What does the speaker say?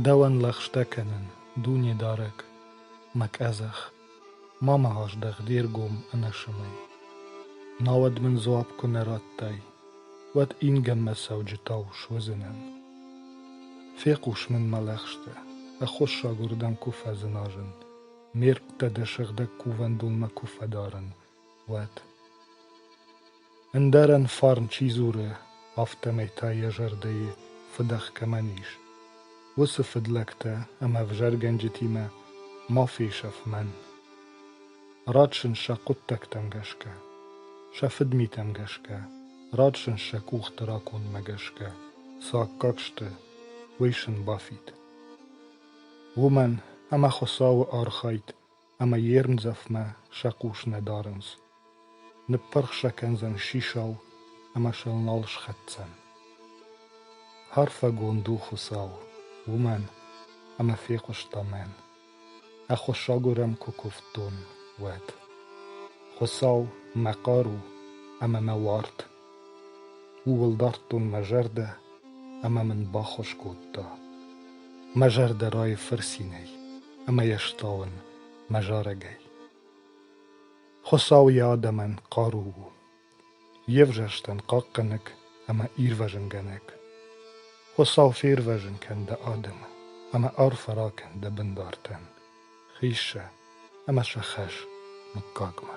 Дӕуӕн лӕгъстӕ кӕнын, Дунедарӕг, мӕ къӕдзӕх, ма мӕ аздӕх де ргом ӕнӕсымӕй. Науӕд мын дзуапп куы нӕ радтай, уӕд ингӕнмӕ цӕуджытау суыдзынӕн. Фехъус мын мӕ лӕгъстӕ, аххосаг уырдӕм куы фӕдзына зынд, ме рдтӕ дӕ сыгъдӕг кувӕндонмӕ куы фӕдарын, уӕд. Ӕндӕрӕн фарн чи дзуры, афтӕмӕй та йӕ зӕрдӕйы фыдӕх кӕмӕн ис, уыцы фыдлӕгтӕ ӕмӕ ӕвзӕргӕнджытимӕ ма фесӕф мӕн. Радсин сӕ хъуыддӕгтӕм гӕсгӕ, сӕ фыдмитӕм гӕсгӕ, радсин сӕ къухты ракондмӕ гӕсгӕ цы аккаг сты, уый сын бафит. Уымӕн ӕмӕ Хуыцауы архайд ӕмӕ йе рмдзӕфмӕ сӕ хъус нӕ дарынц. Ныппырх сӕ кӕндзӕн сисау ӕмӕ сӕ нал схӕцдзӕн. Арфӕгонд у Хуыцау, уымӕн, ӕмӕ фехъуыста мӕн, ӕххуысагурӕн куы куывтон, уӕд. Хуыцау мӕ хъару ӕмӕ мӕ уарт Ууыл дардтон мӕ зӕрдӕ, ӕмӕ мын баххуыс кодта. Мӕ зӕрдӕ райы фырцинӕй, ӕмӕ йӕ стауын мӕ зарӕгӕй. Хуыцау йӕ адӕмӕн хъару у, йе взӕрстӕн хъахъхъӕнӕг ӕмӕ ирвӕзынгӕнӕг. Хуыцау фервӕзын кӕн дӕ адӕмы ӕмӕ арфӕ ракӕн дӕ бындартӕн, хиссӕ ӕмӕ сӕ хӕс мыггагмӕ.